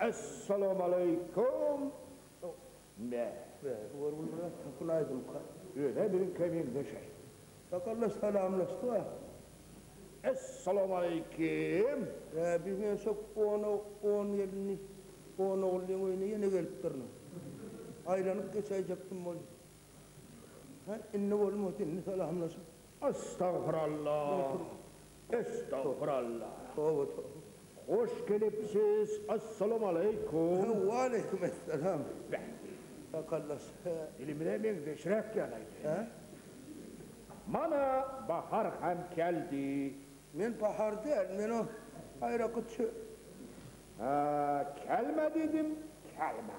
Essalamaleykum Mähri bu bir gün biraz tapyn aýdymka özä biziňkä meňzeşaý Sakaldaş salamlaşdyk a. Essalamaleykim Rabi berse on on gelini on ogullyň öýüne ýene gelip durnuň aýlanyp geçäýjekdim boldy ha indi bolmady indi salamlaşyp Astagfirallah Estagfirallah Toba toba. Hoş gelipsiz Assalam Aleýkum. Waleýkum Essalam Bäh. Sakaldaş he. Dilimize meňzeşräk ýalaydy. He. Mana bahar hem keldi. Men bahar däl men o gaýraky çö. Haa kelme diýdim kelme.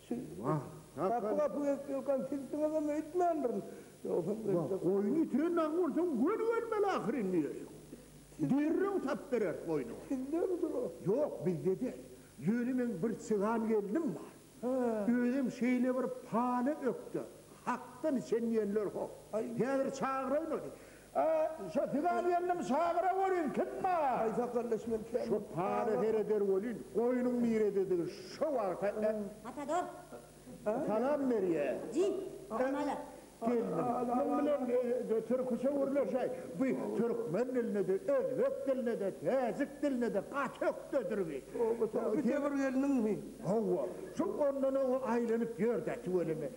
Siz gapy-gapy gezip ýörkäm, sizsiňizem öýtmändirin. Ýogsam öýtsek. Goýny ýitiren dagy bolsaň, göni gelmeli ahyry indi. Derrew tapyp bereris goýnuňy. Sizdemidir o? Ýok, bizde däl. Ýöne meň bir çygan gelnim bar. Özem şeýle bir paly ökde, hakdan içen diýenler hok. Häzir çagyraýmaly. A, şo sygan gelnim çagyra welin, kim bar? Aý, sakaldaş, men kä. Şo pala sereder welin, goýnuň nirededigini şo wagta ä. Ata dog. Salam berýä. Jin, hamala. Gelnim, muň bilen türküçe gürleşäý. Bu türkmen dilinde-de, özbek dilinde-de, täjik dilinde-de gaty ökdedir bi. Toba, toba. Bu Tebir gelniňmi? Hawa. Şo ondan-oňa aýlanyp ýör-dä tüweleme.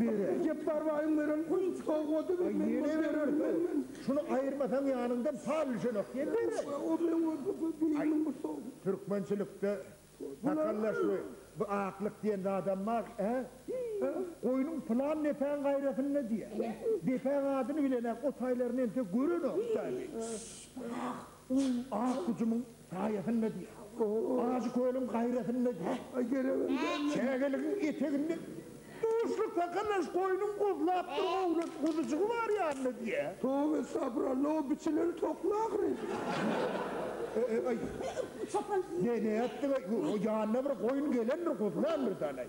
Bere. Jepbar baýyň beren sowgady bir men Ýene berer sow. Şuny aýyrmasaň ýanyňdan pal düşenok. Ýene berer. O bilen bolsa bu bileýiniň bir sow. Türkmençilikde takallaşgy, bu aklyk diýen zadam bar, hä? Goýnuň pylan depäň gaýrasynda diýýär. Depäň adyny bilenok, o taýlaryny entek görenok, taýly. Şşş, brak. Uý, ak hujumyň saýasynda diý. Ajy kölüň gaýrasynda diý. Çägeligiň eteginde duşly kakalaş goýnuň guzlapdyr owlak guzujygy bar ýanynda diý. Towy estagfuralla o biçileri tokla ahyry. Eý, eý, eý. Çopan. Näme etdiň-eý? Ýanyna bir goýun gelendir, guzlandyr-dalaý.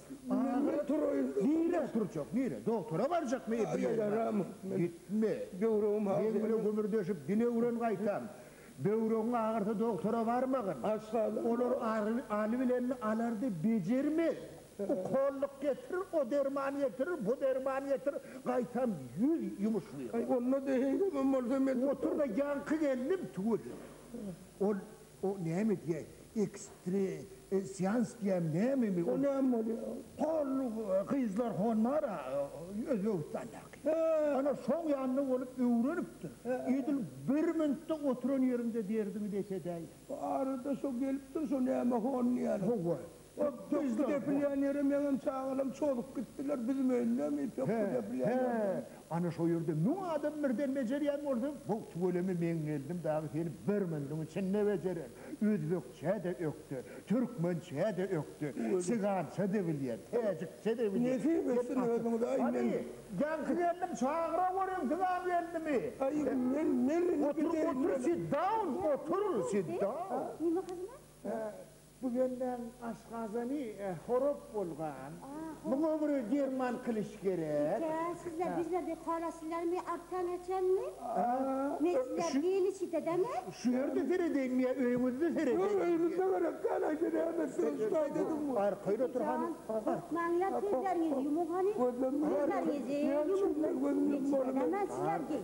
Agyr turaýyň. Nirä turjak, nirä? Dogtora barjakmy? Ýa ýaramyk men. Gitme. Böwregim has Meň bilen gümürdeşip dile öwren gaýtam. Böwregiň agyrsa dogtora barmagyn. Aşgazan. Olar aly bilenini alardy, bejermez. Ukollyk getir, o derman getir, bu derman getir, gaýtam ýüz ýumuşlyga. Onda-da heý, emem bolsa men. Otur-da ýaňky gelnim tüweleme. Ol O näme diýýä ekstresians diýýämi nämemi ol. O näme bolýa hol gyzlar honmara özbegistandaky ana şoň ýanynda bolup öwrenipdir edil bir minutda oturan ýeriňde derdiňi deşedäýýä. Bu arada şo gelipdir şo näme hon diýýäni. Howwa Hop Pökgi depilýänýere meňem çagalam çozup gitdiler, biziň öýündemi Pökgi depilýän ýer diýen. He, ana şo ýerde müň adam birden bejerýän bolsa, wow tüweleme meň geldim dagy seni birmüňdüň içinde bejerer. Özbekçä-de ökde, türkmençä-de ökde, sigança-da bilýär, täjikçä-de bilýär. Nesip etsin özüňize aý men. Hany, ýaňky gelnim çagyra görüň sigan gelnimi. Aý men nerini bileýin. Otur, otur, sit down, otur, sit down. Nima hyzmat? Bu bendäň aşgazany horop bolgan. Muňa bir derman kylyş gerek. Eke, sizler bizler dek horaslylarmy arkan geçenmi? Men sizler hili çitedemi? Şu ýerde seredeýinmi ýa öýüňizde seredeýinmi? Öýümizde gerek däl, aýt-de näme söýüşmäýdedigiň? Arkaýyn otur hany. Gorkmaňlar, sözleriňizi ýumuň hany. Sözleriňizi ýumuň. Çitedemän sizler geý.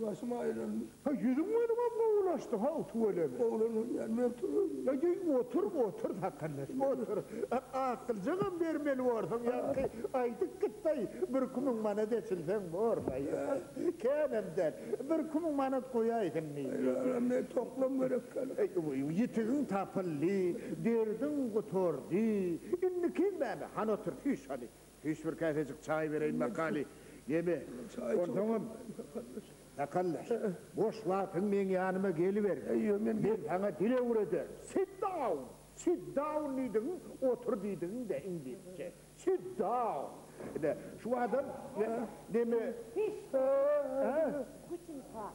Başym aýlandy. Haý, ýüzüň welin-ä gowulaşdy, haw, tüweleme. Gowulanylýan men turup. Haý, otur, otur, sakaldaş, otur. Akyljagam bermeli borsuň, ýaňky aýdyp gitdaý, birki müň manat eçilseň bor, haý. Känem däl, birki müň manat goýaýsyn diý. Haý, alam, men toklam gerek däl. Haý, ýitigiň tapyldy, derdiň gutardy. Indi kim bäri? Hany otur, süýş hany. Hiç bir käsejik çaý bereýin makaly ýeme. Onsoňam, makallaş, boş wagtyň meň ýanyma geliber. Men saňa dil öwrederin. Sit down! Sit down diýdigiň, otur diýdigiň-dä iňlisçe. Sit down! Ine, şu adam neme? Hiç bir zat ýok. Gutentag.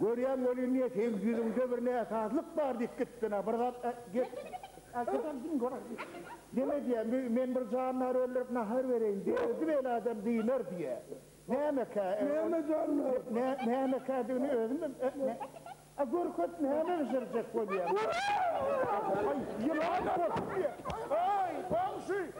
Görýän welin diýe seýis ýüzüňde bir näsazlyk bar diýip gitdin-ä bir zat gep aýtsaňam diň göräý diýip. Deme diýýän bu men bir jandary öldürip nahar bereýin diýe özi beýle adam dynar diýýä. Nämekä Näme jandary? Nämekädigini özüm A görket näme bişirjek bolýaň. Aý ýylan bolsun diýýä. Aý goňşy.